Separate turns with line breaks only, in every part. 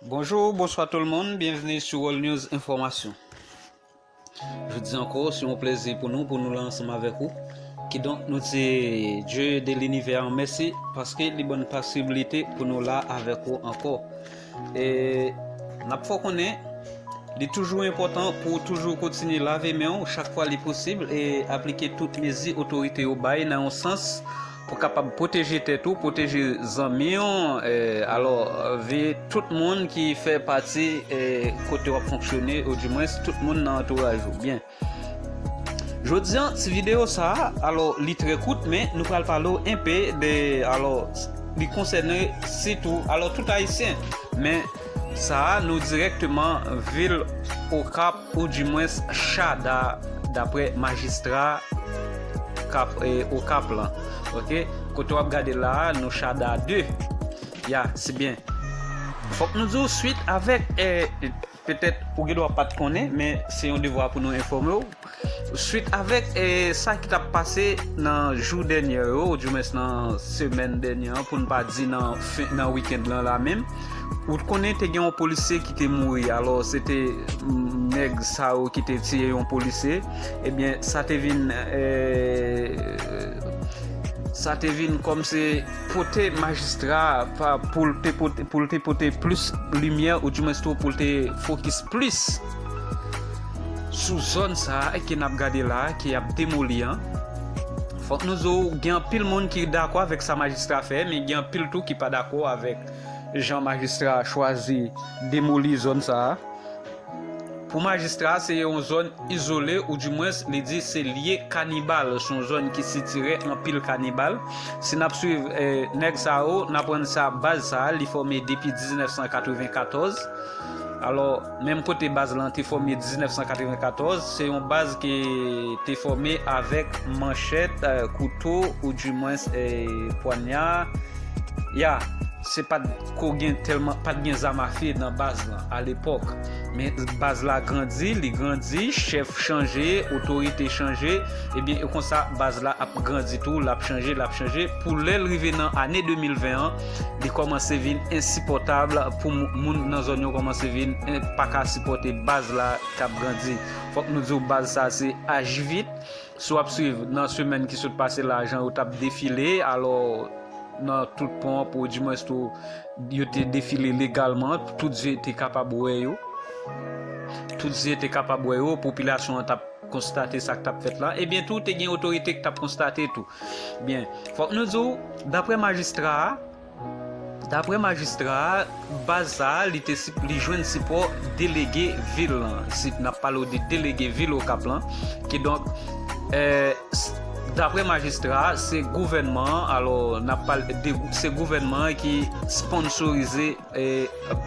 Bonjour, bonswa tout le monde, bienvenue sur World News Information. Jodi anko, se yon plezi pou nou, pou nou la ansanm avèk ou. Kidonk nou di Dieu de l'univers an mèsi, paske li ban pasibilite pou nou la avèk ou anko. E, nap fò konnen, li toujou enpotan pou toujou kontinye lave men ou chak fwa li posib e aplike tout mezi otorite yo bay nan yon sans Pou kapab pwoteje tèt ou, pwoteje zanmi w, alò veye tout moun ki fè pati kote wap fonksyone ou di mwens tout moun nan antouraj ou. Byen. Jodi an ti videyo sa, alò li trè kout men nou pral pale w enpe de alò li konsène sitou alò tout ayisyen men sa nou dirèkteman vil okap Ou di mwens chada dapre majistra kap okap lan ok kote wap gade la nou chada 2 ya se byen fok nou diw swit avek petet ou gen dwa pat konnen men se yon devwa pou nou enfome w swit avek sa ki tap pase nan jou denye yo ou di mwens nan semen denye an poun pa di nan wikend lan la menm. Ou t konnen te gen yon polisye ki te mouri alò se te nèg sa yo ki te tiye yon polisye ebyen sa te vin sa te vin kòm se pote majistra pa pou l te pote pou l te pote plis limyè ou di mwens tou pou l te fokis plis sou zòn sa a ke nap gade la a ke yap demoli an fòk nou zo gen anpil moun ki dakò avèk sa majistra fè men gen anpil tou ki pa dakò avèk Jan majistra a chwazi demoli zòn sa a. Pou majistra a, se yon zòn izole ou di mwens li di se lye kanibal, se yon zòn ki sitire anpil kanibal. Si n ap swiv nèg sa yo, n aprann sa baz sa a li fòme depi 1994. Alò. Menm kote baz lan te fòme 1994, se yon baz ki te fòme avèk manchèt, kouto ou di mwens pwanya. Ya, se pat ko gen tèlman, pat gen zam afe nan baz lan a lepòk. Men baz la grandi, li grandi, chèf chanje, otorite chanje, ebyen e konsa baz la ap grandi tou, l ap chanje, l ap chanje pou lè l rive nan ane 2020 an, li kòmanse vin ensipòtab pou moun nan zòn yo kòmanse vin pa ka sipòte baz la k ap grandi. Fòk nou di w baz sa se aji vit. Si w ap swiv nan semèn ki sot pase la jan yo t ap defile alò nan tout ponp ou dimwens tou yo te defile legalman tout zye te kapab wè yo tout zye te kapab wè yo popilasyon an t ap konstate sa k t ap fèt la, ebyen tou te gen otorite k t ap konstate tou. Byen, fòk nou di w, daprè majistra a, daprè majistra a, baz sa a li te si, li jwenn sipò delege vil lan, si n ap pale w de delege vil Okap lan, kidonk, daprè majistra a, se gouvènman an, alò n ap pale de, se gouvènman an ki sponsorize.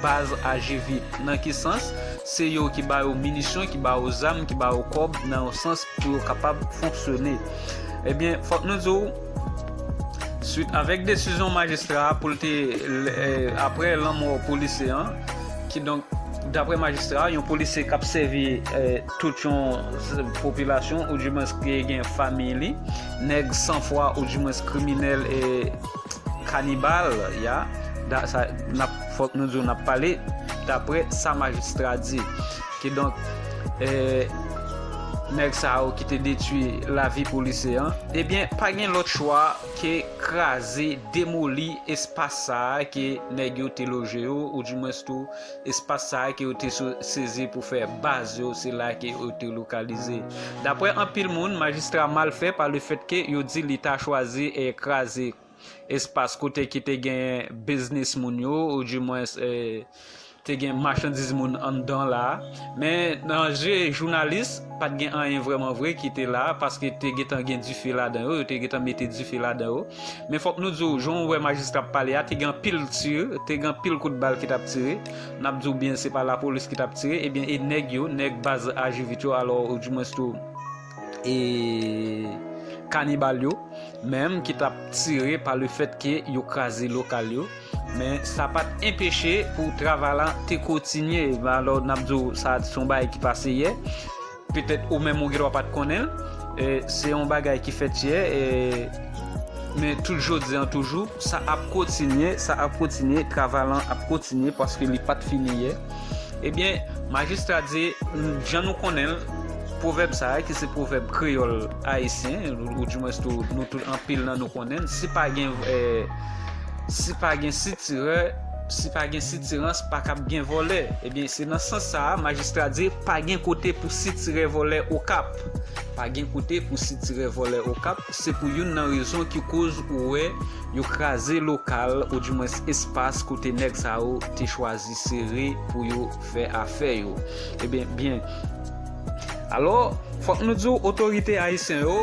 Baz aji vit. Nan ki sans? Se yo ki ba yo minisyon, ki ba yo zam, ki ba yo kòb nan yon sans pou yo kapab fonksyone. Ebyen, fòk nou di w, swit avèk desizyon majistra a pou l te, apre lanmò polisye an, kidonk, daprè majistra a, yon polisye k ap sèvi tout yon popilasyon, oudimwens ki gen fanmiy li, nèg san fwa, oudimwens kriminèl e. Kanibal ya da sa nap fòk nou diw nap pale daprè sa majistra di ki donk eeh nèg sa yo ki te detwi lavi polisye an ebyen pa gen lòt chwa ke kraze demoli espas sa ke nèg yo te loje yo ou di mwens tou Espas sa a ke yo te sezi pou fè baz yo, se la ke yo te lokalize. Dapre anpil moun, majistra mal fè pa lefèt ke yo di li ta chwazi kraze espas kote ki te gen biznis moun yo, ou di mwens te gen machandiz moun anndan la a. Men, nan je jounalis, pa t gen anyen vrèman vre ki te la a, paske te gentan gen dife ladan yo, yo te gentan mete dife ladan yo. Men fòk nou di w, jan w wè majistra ap pale a, te gen anpil tir, te gen anpil kout bal ki t ap tire. N ap di w byen se pa lapolis ki t ap tire, ebyen e nèg yo, nèg baz Ajivit yo alò oudimwens tou e kanibal yo menm ki t ap tire pa le fèt ke yo kraze lokal yo. Men sa pa t enpeche pou travay la te kotinye. Alò n ap di w sa se yon bagay ki pase yè. Petèt ou menm ou gendwa pa t konnen l. Se yon bagay ki fèt yè, men tout jodi an toujou, sa ap kontinye, sa ap kontinye, travay lan ap kontinye paske li pa t fini yè. Ebyen, Majistra di, jan nou konnen l, pwovèb sa a ki se pwovèb kreyòl ayisyen, ou dimwens tou nou tout anpil nan nou konnen l, si pa gen sitirè, Si pa gen sitirans pa kab gen vòlè. Ebyen se nan sans sa a majistra di pa gen kote pou sitirè vòlè Okap. Pa gen kote pou sitirè vòlè Okap, se pou youn nan rezon ki koz ou wè yo kraze lokal ou di mwens espas kote nèg sa yo te chwazi sere pou yo fè afè yo. Ebyen byen. Alò, fòk nou di w otorite ayisyen yo,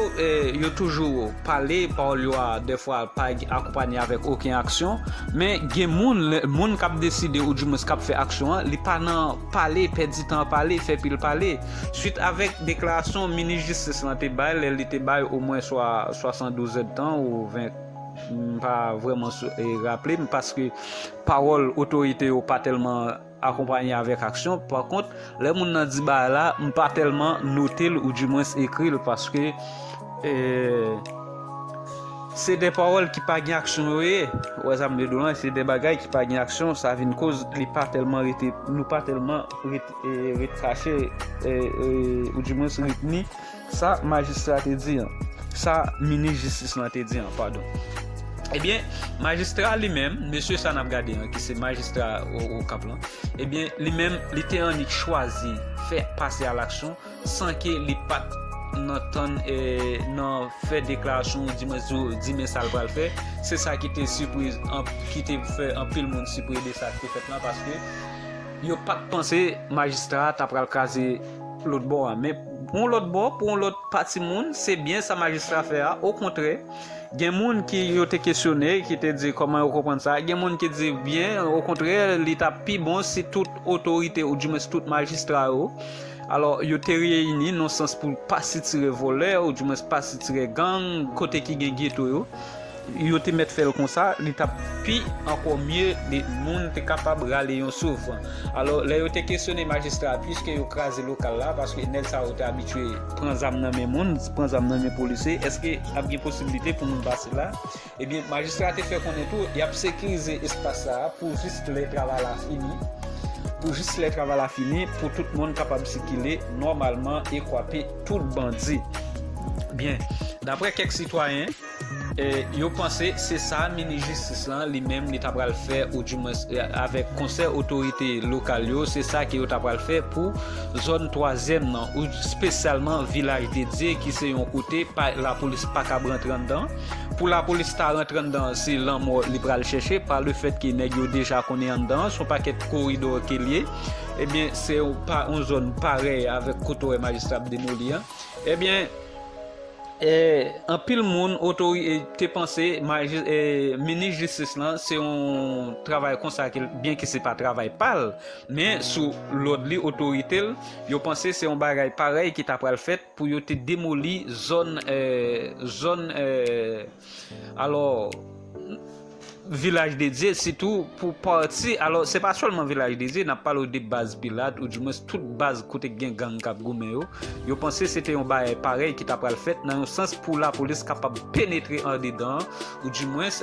yo toujou pale, pawòl yo a dèfwa pa akonpanye avèk oken aksyon, men gen moun, moun k ap deside ou di mwens k ap fè aksyon an, li pa nan pale, pèdi tan pale, fè pil pale. Swit avèk deklarasyon minis jistis lan te bay lè li te bay omwen swa 72 zèdtan ou 20, m pa vrèman raple m paske pawòl otorite yo pa tèlman. akonpanye avèk aksyon, pa kont lè moun nan di bagay la m pa tèlman note l ou di mwens ekri l paske se de pawòl ki pa gen aksyon yo ye ou wè sa m vle di w lan se de bagay ki pa gen aksyon sa vin koz li pa tèlman rete nou pa tèlman rete kache ou di mwens retni. Sa majistra te di an. Sa minis jistis lan te di an, padon. Ebyen, majistra li menm, mesye sa n ap gade an, ki se majistra Okap lan, ebyen, li menm, li te annik chwazi fè pase a laksyon san ke li pa t nan tann e nan fè deklarasyon ou di mwen zo di men sa l pral fè. Se sa ki te sipriz an, ki te fè anpil moun sipriz de sa ki te fèt lan paske yo pa t panse majistra a ta pral kraze. lòt bò a. Men, pou yon lòt bò, pou yon lòt pati moun, se byen sa majistra fè a. Okontrè, gen moun ki yo te kesyone, ki te di kòman yo konprann sa. Gen moun ki di byen, okontrè, li ta pi bon si tout otorite oudiwens tout majistra yo, alò, yo te reyini nan sans pou pa sitire vòlè, oudiwens pa sitire gang, kote ki gen geto yo. Yo te mèt fèl konsa li tap pi ankò mye li moun te kapab rale yon souf alò lè yo te kesyone majistra a pwiske yo kraze lokal la paske nèg sa yo te abitye pran zam nan men moun pran zam nan men polisye eske ap gen posibilite pou moun pase la ebyen majistra a te fè konnen tou yap sekirize espas sa a pou jis lè travay la fini pou jis lè travay la fini pou tout moun kapab sikile nòmalman e kwape tout bandi byen daprè kèk sitwayen. Yo panse se sa minis jistis lan li menm li ta pral fè ou di mwens avèk konsè otorite lokal yo se sa ke yo ta pral fè pou zòn twazyèm nan ou spesyalman vilaj de dye ki se yon kote pa lapolis pa kab rantre anndan pou lapolis ta rantre anndan se lanmò li pral chèche pa le fèt ke nèg yo deja konnen anndan son pakèt koridò ke liye ebyen se yon zòn parèy avèk kote wè majistra ap demoli an ebyen. Anpil moun te panse minis jistis lan se yon travay konsa ke l fè, byenke se pa travay pa l, men sou lòd li, otorite l, yo panse se yon bagay parèy ki ta pral fèt pou yo te demoli zòn. Alò, Vilaj de Dye, sitou pou pati, alò se pa sèlman Vilaj de Dye, n ap pale w de baz Pilat, ou dimwens tout baz kote ki gen gang k ap goumen yo, yo panse se te yon bagay parèy ki ta pral fèt nan yon sans pou lapolis kapab penetre andedan an, ou dimwens.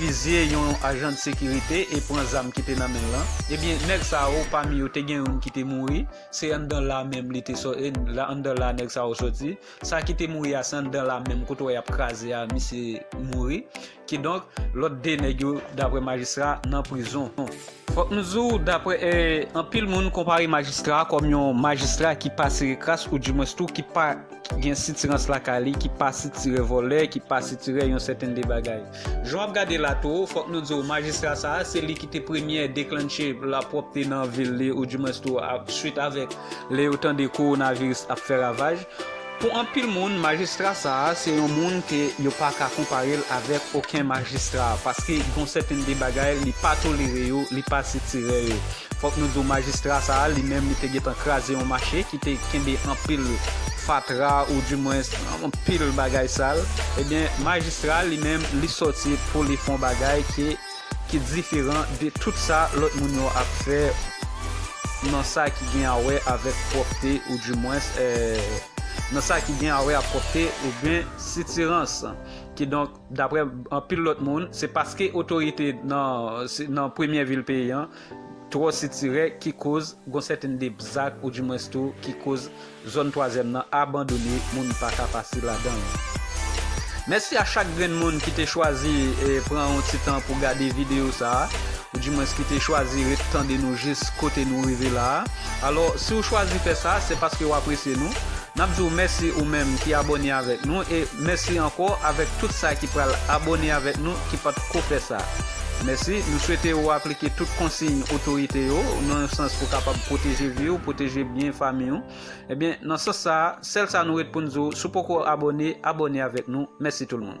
fizye yon ajan de sekirite e pran zam ki te nan men l lan. Ebyen nèg sa yo pami yo te gen youn ki te mouri, se anndan la menm li te sò e anndan la nèg sa yo sòti. Sa ki te mouri a se anndan la menm kote wè y ap kraze a misye mouri. Kidonk lòt 2 nèg yo daprè majistra nan prizon. Fòk nou di w daprè anpil moun konpare majistra a kòm yon majistra ki pa sere kras ou dimwens tou ki pa ki gen sitirans lakay li ki pa sitire vòlè ki pa sitire yon sèten de bagay jan w ap gade la tou fòk nou di w majistra sa a se li ki te premye deklannche lapwòpte nan vil li ou di mwens tou swit avèk lè yo tande kowonaviris ap fè ravaj pou anpil moun majistra sa a se yon moun ke yo pa ka konpare l avèk oken majistra paske gon sèten de bagay li pa tolere yo li pa sitire yo. Fòk nou di w majistra sa a li menm li te gentan kraze yon mache ki te kenbe anpil fatra ou di mwens anpil bagay sal ebyen majistra a li menm li sòti pou li fon bagay ke ki diferan de tout sa lòt moun yo ap fè nan sa ki gen a wè avèk pwòpte ou di mwens nan sa ki gen a wè a pwòpte oubyen sitirans kidonk. Daprè anpil lòt moun, se paske otorite nan premyè vil peyi an twò sitirè ki koz gon sèten de bzak ou di mwens tou ki koz zòn twazyèm nan abandone moun pa ka pase ladan l. Mèsi a chak grenn moun ki te chwazi pran yon ti tan pou gade videyo sa a, ou di mwens ki te chwazi ret tande nou jis kote nou rive la a. Alò, si ou chwazi fè sa, se paske ou apresye nou. Nap diw mèsi ou menm ki abone avèk nou e mèsi ankò avèk tout sa ki pral abone avèk nou ki pat ko fè sa mèsi nou swete ou aplike tout konsiy otorite yo nan yon sans pou kapab pwoteje viw pwoteje byen famiw ebyen nan sans sa sèl sa nou ret poun diw sou poko abone abone avèk nou mèsi tout moun.